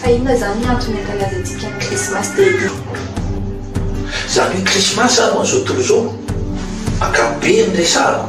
Fa inona izany ny antony ankalazantsika ny krismasy Daddy? Za mino krismasy zany ho an'izao tontolo izao ankapobeny resahako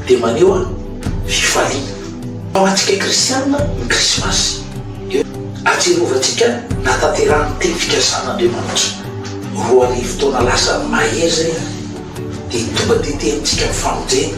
dia maneho fifaliana. Ho antsika kristianina ny krismasy dia ahatserovantsika nahatanterahan'ny teny fikasan'Andriamanitra roa arivo taona lasa mahery izay dia tonga dia te amintsika ny famonjena.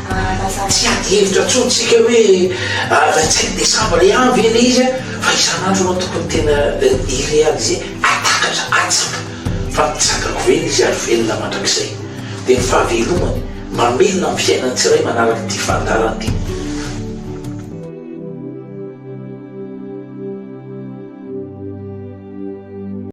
Fa tsy ady hevitra intsony tsika hoe raha tsy hain'i Desambra ihany ve ilay izy fa isan'andro ianao tokony tena hi-realiser hahatakatra, hahatsapa fa mitsangako ve ilay izy ary velona mandrakizay. Dia ny fahavelomany, mamelona ny fiainan'ny tsirairay manaraka ity fandaharana ity.